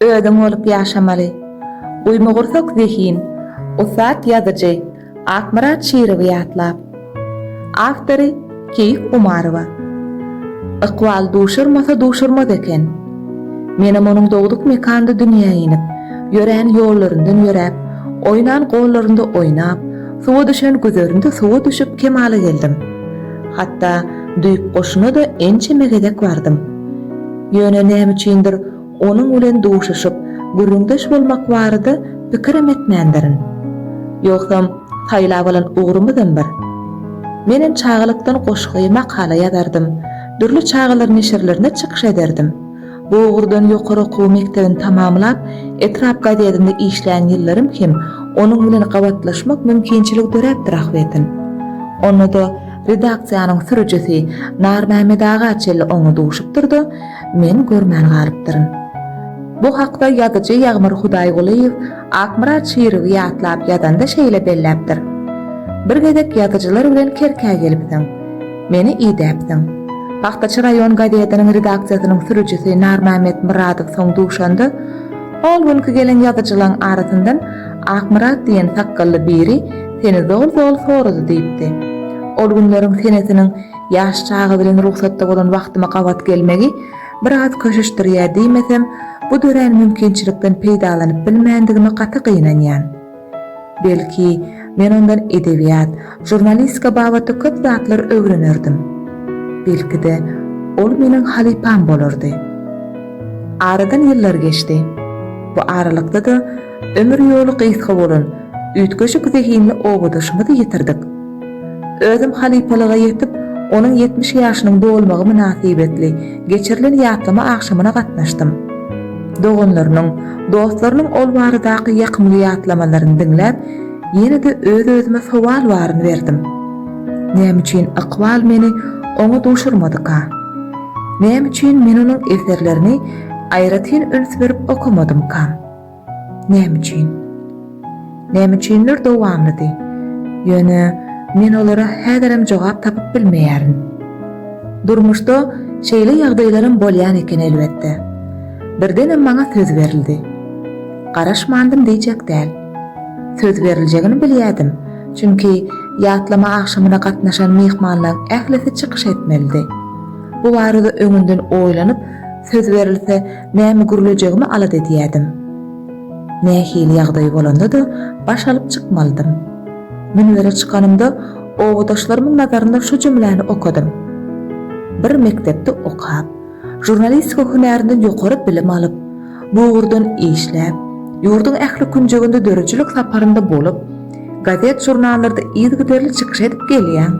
Özüň bolup ýaşamaly. Guýmagursak zehin, ussat ýazyjy Akmyrat Şirowy ýatlap. Awtory, Keýik Umarowa. Ykbal duşurmasa duşurmaz eken. Menem onuň dogduk mekanda dünýä inip, ýörän ýollaryndan ýöräp, oýnan gollarynda oýnap, suwa düşen güzerinde suwa düşüp kemala geldim. Hatda düýp goşuna-da ençeme gezek bardym. Ýöne näme üçindir, onuň bilen duşuşyp, gürrüňdeş bolmak barada pikirem etmändirin. Ýogsam, saýlap alan ugrumyzam bir. Menem çagalykdan goşgy, makala ýazardym, dürli çagalar neşirlerinde çykyş ederdim. Bu ugurdan ýokary okuw mekdebini tamamlap, etrap gazetinde işlän ýyllarym hem onuň bilen gabatlaşmak mümkinçiligi döräpdir ahbetin. Onda-da Redaksiýanyň sürüjisi Narmämmet aga çenli oňa duşupdyr-da, men görmän galypdyryn. Bu hakda ýazyjy Ýagmyr Hudaýgulyýew Akmyrat Şirowy ýatlap ýazanda şeýle belläpdir, Bir gezek ýazyjylar bilen Kerkä gelipsiň. Meni idäpsiň. Pagtaçy raýon gazetiniň redaksiýasynyň sürüjisi Narmämmet Myradow soň duşanda, ol günki gelen ýazyjylaň arasyndan Akmyrat diýen sakgally biri Seni zol-zol sorady diýipdi. Ol günleriň senesiniň ýaş çaga bilen rugsatda bolan wagtyma gabat gelmegi biraz köşeşdirýär diýmesem, bu dörän mümkinçilikden peýdalanyp bilmändigime gaty gynanýan. Belki, men ondan edebiýat, žurnalistika babatda köp zatlar öwrenerdim. Belki-de, ol meniň halypam bolardy. Aradan ýyllar geçdi. Bu aralykda-da Ömür ýoly gysga bolan, üýtgeşik zehinli obadaşymyzy ýitirdik. Özüm halypalyga ýetip, onuň ýetmiş ýaşynyň dolmagy mynasybetli geçirilen ýatlama agşamyna gatnaşdym. Doganlarynyň, dostlarynyň ol baradaky ýakymly ýatlamalaryny diňläp, ýene-de öz-özüme sowal baryny berdim. Näme üçin ykbal meni oňa duşurmadyka? Näme üçin men onuň eserlerini aýratyn üns berip okamadymkam? Näme üçin? Näme üçinler dowamlydy. Ýöne men olara häzirem jogap tapyp bilmeýärin. Durmuşda şeýle ýagdaýlaram bolýan eken elbetde. Birdenem maňa söz berildi. Garaşmandym diýjek däl. Söz beriljegini bilýädim, çünki ýatlama agşamyna gatnaşan myhmanlaň ählisi çykyş etmelidi. Bu barada öňünden oýlanyp söz berilse Näme gürlejegimi alada edýärdim. Nähili ýagdaý bolanda-da baş alyp çykmalydym. Münbere çykanymda obadaşlarymyň nazarynda şu jümläni okadym. Bir mekdepde okap, žurnalistika hünärinden ýokary bilim alyp, bu ugurdan işläp, ýurduň ähli künjeginde döredijilik saparynda bolup, gazet-žurnallarda yzygiderli çykyş edip gelýäň.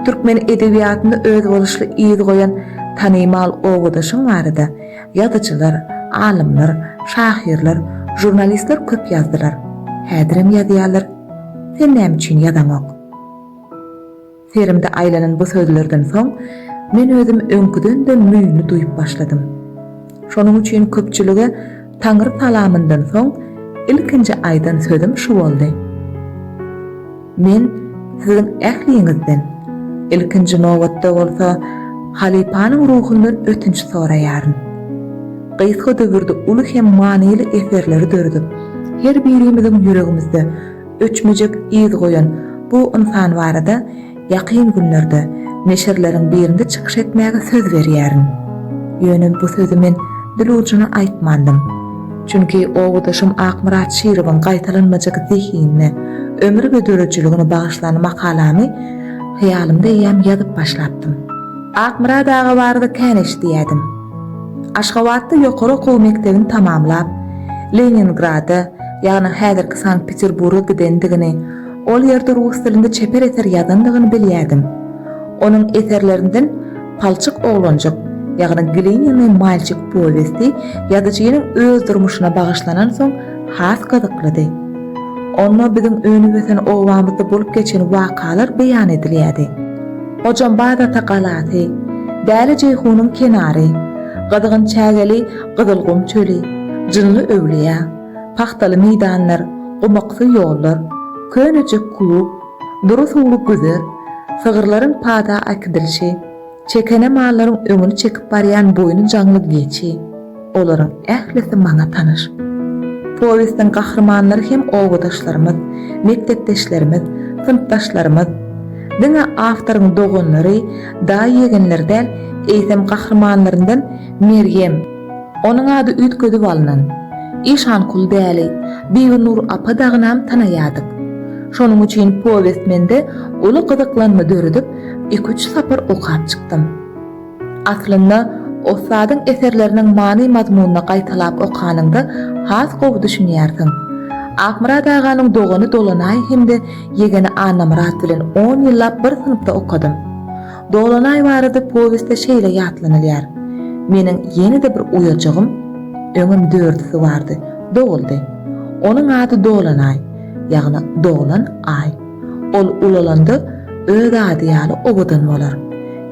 Türkmen edebiýatynda özboluşly yz goýan tanymal obadaşyň barada ýazyjylar, alymlar, şahyrlar, žurnalistler köp ýazdylar. Häzirem ýazýarlar. Sen näme üçin ýazaňok? Serimde aýlanan bu sözlerden soň, men özüm öňküden-de müýnli duýup başladym. Şonuň üçin köpçülige Taňry salamyndan soň ilkinji aýdan sözüm şu boldy, Men siziň ähliňizden, ilkinji nobatda bolsa, halypanyň ruhundan ötünç soraýaryn. Gysga döwürde uly hem manyly eserleri döredip, her birimiziň ýüregimizde Öçmejek yz goýan bu ynsan barada ýakyn günlerde neşirleriň birinde çykyş etmäge söz berýärin. Ýöne bu sözi men dil ujuna aýtmandym. Çünki obadaşym Akmyrat Şirowyň gaýtalanmajak zehinine, ömür we döredijiligine bagyşlan makalamy hyýalymda eýýäm ýazyp başlapdym. Akmyrat aga barada kän eşidýädim. Aşgabatda ýokary okuw mekdebini tamamlap, Leningrada, ýagny häzirki Sankt-Peterburga gidendigini, ol ýerde rus dilinde çeper eser ýazandygyny bilýärdim. Onuň eserlerinden Palçyk oglanjyk, ýagny Glinenýý malçik powesti ýazyjynyň öz durmuşyna bagyşlanansoň has gyzyklydy. Onda biziň önüp-ösen obamyzda bolup geçen wakalar beýan edilýärdi. Hojambaz ata galasy, Däli Jeýhunyň kenary, Gyzgyn çägeli Gyzylgum çöli, Jynly öwlüýä, Pagtaly meýdanlar, gumaksy ýollar, könejik klub, dury suwly güzer, sygyrlaryň paza äkidilişi, çekene mallaryň öňüni çekip barýan boýny jaňly geçi, olaryň ählisi maňa tanyş. Powestiň gahrymanlary hem obadaşlarymyz, mekdepdeşlerimiz, synpdaşlarymyz. Diňe awtoryň doganlary, daýy-ýegenleri däl, eýsem gahrymanlaryndan Merýem, Onuň ady üýtgedip alnan. Işankul däli, Bibinur apa dagynam tanaýardyk. Şonuň üçin powest mende uly gyzyklanma döredip, iki-üç sapar okap çykdym. Aslynda, ussadyň eserleriniň many-mazmunyny gaýtalap okanyňda has gowy düşünýärsiň. Akmyrat aganyň dogany Dolanaý hem-de ýegeni Annamyrat bilen on ýyllap bir synpda okadym. Dolanaý barada powestde şeýle ýatlanylýar, Meniň ýene-de bir uýajygym, öňem dördüsi bardy, doguldy. Onuň ady Dolanaý, ýagny doglan Aý. Ol ulalanda öz ady ýaly owadan bolar.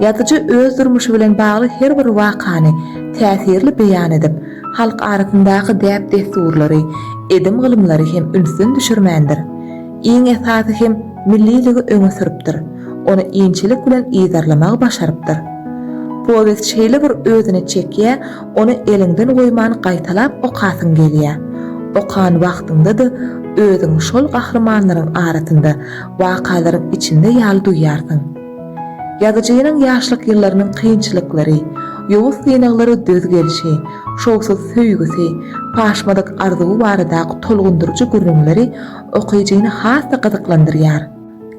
Ýazyjy öz durmuşy bilen bagly her bir wakany täsirli beýan edip, halk arasyndaky däp-dessurlary, edim-gylymlary hem ünsden düşürmändir. Iň esasy hem milliligi öňe sürüpdir, ony inçelik bilen yzarlamagy başarypdyr. Powest şeýle bir özüne çekýär, ony eliňden goýman gaýtalap okasyň gelýär. Okan wagtyňda-da özüňi şol gahrymanlaryň arasynda, wakalaryň içinde ýaly duýýarsyň. Ýazyjynyň ýaşlyk ýyllarynyň kynçylyklary, ýowuz synaglara döz gelşi, şowsuz söýgüsi, paşmadyk arzuwy baradaky tolgundyryjy gürrüňleri okyjyny has-da gyzyklandyrýar.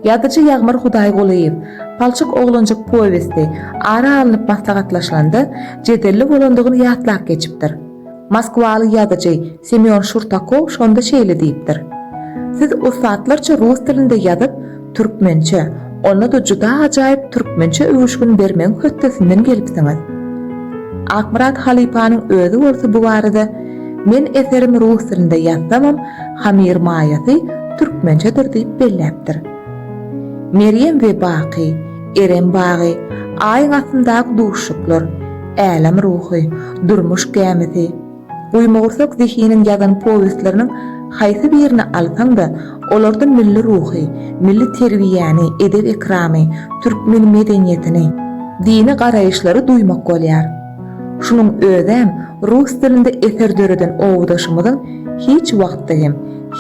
Ýazyjy Ýagmyr Hudaýgulyýew, Palçyk oglanjyk powesti ara alnyp maslahatlaşylanda jedelli bolandygyny ýatlap geçipdir. Moskwaly ýazyjy Semýon Şurtakow şonda şeýle diýipdir, Siz ussatlarça rus dilinde ýazyp, Türkmençe, onda-da juda ajaýyp türkmençe öwüşgin bermegiň hötdesinden gelipsiňiz. Akmyrat halypanyň özi bolsa bu barada, Men eserimi rus dilinde ýazsamam, hamyr maýasy türkmençedir diýip belläpdir. Merýem we Baky, Erem bagy, Aýyň astyndaky duşuşyklar, Älem ruhy, Durmuş gämisi, Guýmagursak zehiniň ýazan powestleriniň haýsy birini alsaň-da, olarda milli ruhy, milli terbiýäni, edep-ekramy, türkmen medeniýetini, dini garaýyşlary duýmak bolýar. Şunuň özem rus dilinde eser döreden obadaşymyzyň hiç wagtda hem,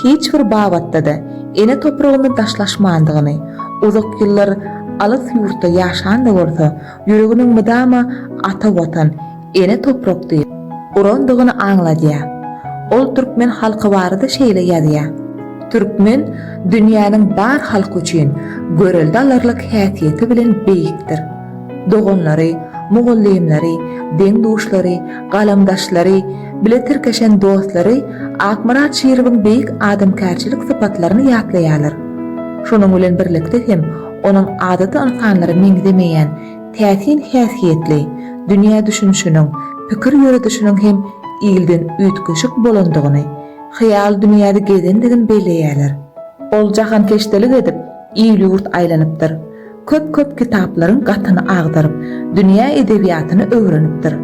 hiç bir babatda-da ene topragyny daşlaşmandygyny, uzak ýyllar alys ýurtda ýaşan-da bolsa, ýüreginiň mydama ata Watan, Ene toprak diýip, urandygyny aňladýar. Ol türkmen halky barada şeýle ýazýar, Türkmen dünýäniň bar halky üçin görelde alarlyk häsiýeti bilen beýikdir. Doganlary, mugallymlary, deň-duşlary, galamdaşlary, bile tirkeşen dostlary Akmyrat Şirowyň beýik adamkärçilik sypatlaryny ýatlaýarlar. Şonuň bilen birlikde hem onuň adaty ynsanlara meňzemeýän, Täsin häsiýetli, dünýä düşünişiniň, pikir ýöredişiniň hem ilden üýtgeşik bolandygyny, hyýal dünýäde gezendigini belleýärler. Ol jahankeşdelik edip, il-ýurt aýlanypdyr. Köp-köp kitaplaryň gatyny agdaryp, dünýä edebiýatyny öwrenipdir.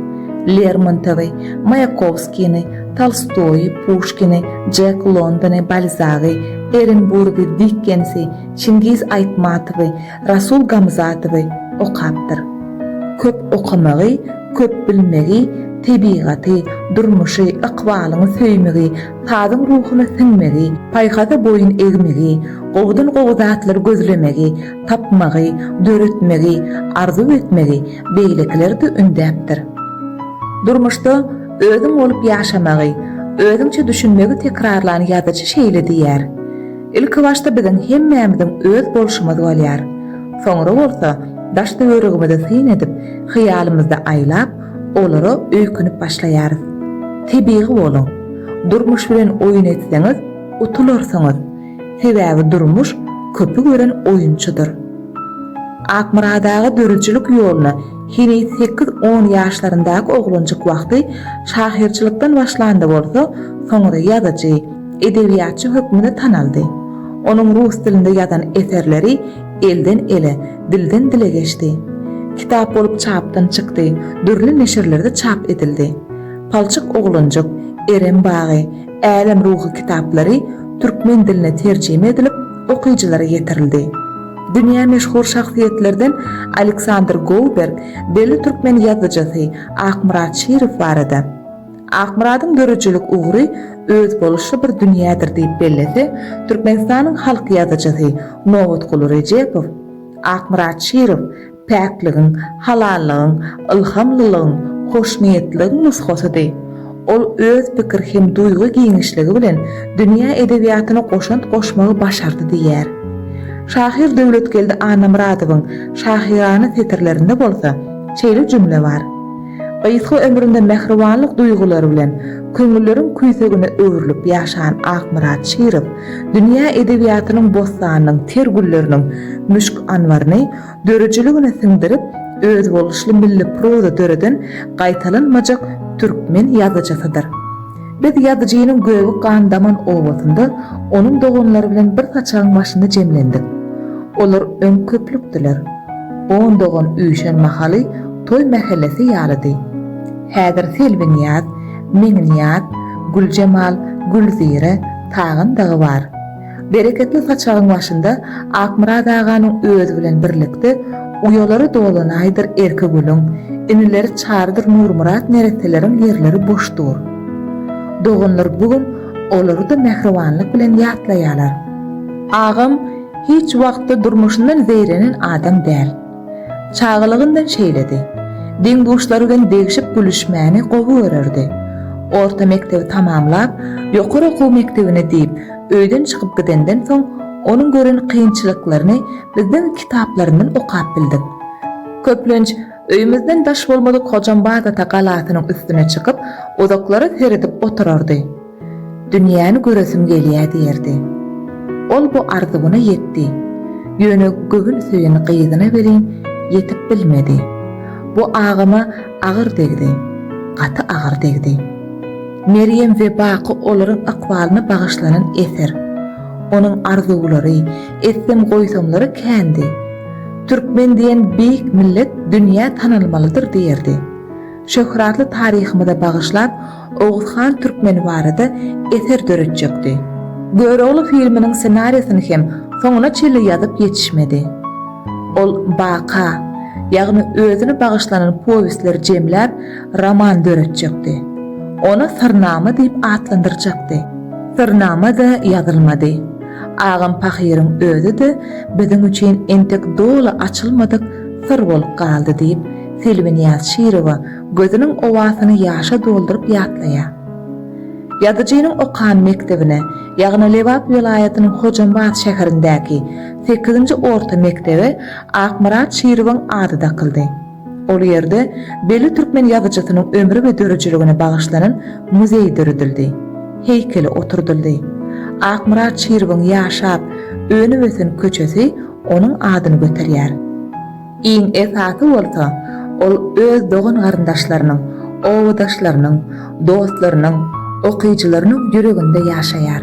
Lermontowy, Maýakowskini, Tolstoýy, Puşkini, Jek Londony, Balzagy, Erenburgy, Dikkensi, Çingiz Aýtmatowy, Rasul Gamzatowy okapdyr. Köp okamagy, köp bilmegi, tebigaty, durmuşy, ykbalyňy söýmegi, sazyň ruhuna siňmegi, paýhaza boýun egmegi, gowudan-gowy zatlary gözlemegi, tapmagy, döretmegi, arzuw etmegi beýlekileri-de ündäpdir. Durmuşda özüň bolup ýaşamagy, özüňçe düşünmegi tekrarlan ýazyjy şeýle diýýär. Ilki başda biziň hemmämiziň öz bolşumyz bolýar. Soňra bolsa daş-töweregimizi syn edip, hyýalymyzda aýlap, olara öýkünip başlaýarys. Tebigy boluň. Durmuş bilen oýun etseňiz, utularsyňyz. Sebäbi durmuş köpi gören oýunçydyr. Akmyrat aga döredijilik ýoluna heniz sekiz-on ýaşlaryndaky oglanjyk wagty şahyrçylykdan başlanda bolsa, soňra ýazyjy, edebiýatçy hökmünde tanaldy. Onuň rus dilinde ýazan eserleri elden-ele, dilden-dile geçdi. Kitap bolup çapdan çykdy, dürli neşirlerde çap edildi. Palçyk oglanjyk, Erem bagy, Älem ruhy kitaplary türkmen diline terjime edilip, okyjylara ýetirildi. Dünýä meşhur şahsyýetlerden Aleksandr Gouberg, belli türkmen ýazyjysy Akmyrat Şirow barada. Akmyradyň döredijilik ugry özboluşly bir dünýädir diýip bellese, Türkmenistanyň halk ýazyjysy Nobatguly Rejepow, Akmyrat Şirow päkligiň, halallygyň, ylhamlylygyň, hoşniýetligiň nusgasydy. Ol öz pikir hem duýgy giňişligi bilen dünýä edebiýatyna goşant goşmagy başardy diýýär. Şahyr Döwletgeldi Annamyradowyň şahyrana setirlerinde bolsa şeýle jümle bar, Gysga ömründe mähribanlyk duýgulary bilen köňülleriň küýsegine öwrülip ýaşan Akmyrat Şirow dünýä edebiýatynyň bossanynyň ter gülleriniň müşk anbaryny döredijiligine siňdirip, özboluşly milli proza döreden gaýtalanmajak türkmen ýazyjysydyr. Biz ýazyjynyň gögi gan daman obasynda onuň doganlary bilen bir saçagyň başynda jemlendik. Olar öň köplükdiler. On dogan üýşen mahaly toý mähellesi ýalydy. Häzir Selbinýaz, Meňinýaz, Güljemal, Gülzire, Tagan dagy bar. Bereketli saçagyň başynda Akmyrat aganyň özi bilen birlikde uýalary dolanaýdyr Erkegülüň, inileri Çarydyr Nurmyrat neresteleriň ýerleri boş dur. Doganlar bu gün olary-da mähribanlyk bilen ýatlaýarlar. Agam hiç wagtda durmuşyndan zeýrenen adam däl. Çagalygyndan şeýledi. Deň-duşlary bilen degşip-gülüşmäni gowy görerdi. Orta mekdebi tamamlap, ýokary okuw mekdebine diýip, Öýden çykyp gidenden soň onuň gören kynçylyklaryny bizden kitaplaryndan okap bildik. Köplenç öýümizden daş bolmadyk Hojambazata galasynyň üstüne çykyp, uzaklara seredip oturardy. Dünýäni göresim gelýä diýerdi. Ol bu arzuwyna ýetdi. Ýöne göwün söýen gyzyna welin ýetip bilmedi. Bu agama agyr degdi. Gaty agyr degdi. Merýem we baky olaryň ykbalyna bagyşlanan eser. Onuň arzuwlary, etsem-goýsamlary kändi. Türkmen diýen beýik millet dünýä tanalmalydyr diýerdi. Şöhratly taryhymyza bagyşlap Oguzhan Türkmen barada eser döretjekdi. Görogly filminiň ssenariýasyny hem soňuna çenli ýazyp ýetişmedi. Ol baka, ýagny özüne bagyşlanan powestleri jemläp, roman döretjekdi. Ony Syrnama diýip atlandyrjakdy. Syrnama-da ýazylmady. Agam pahyryň özi-de biziň üçin entek doly açylmadyk syr bolup galdy diýip, Selbinýaz Şirowa gözüniň owasyny ýaşa dolduryp ýatlaýar. Ýazyjynyň okan mekdebine, ýagny Lebap welaýatynyň Hojambaz şäherindäki sekizinji orta mekdebe Akmyrat Şirowyň ady dakyldy. Ol ýerde belli türkmen ýazyjysynyň ömri we döredijiligine bagyşlanan muzeý döredildi, heýkeli oturdyldy. Akmyrat Çiribiň ýaşap, önüp-ösen köçesi onuň adyny göterýär. Iň esasy bolsa, ol öz dogan-garyndaşlarynyň, obadaşlarynyň, dostlarynyň, okyjylarynyň ýüreginde ýaşaýar.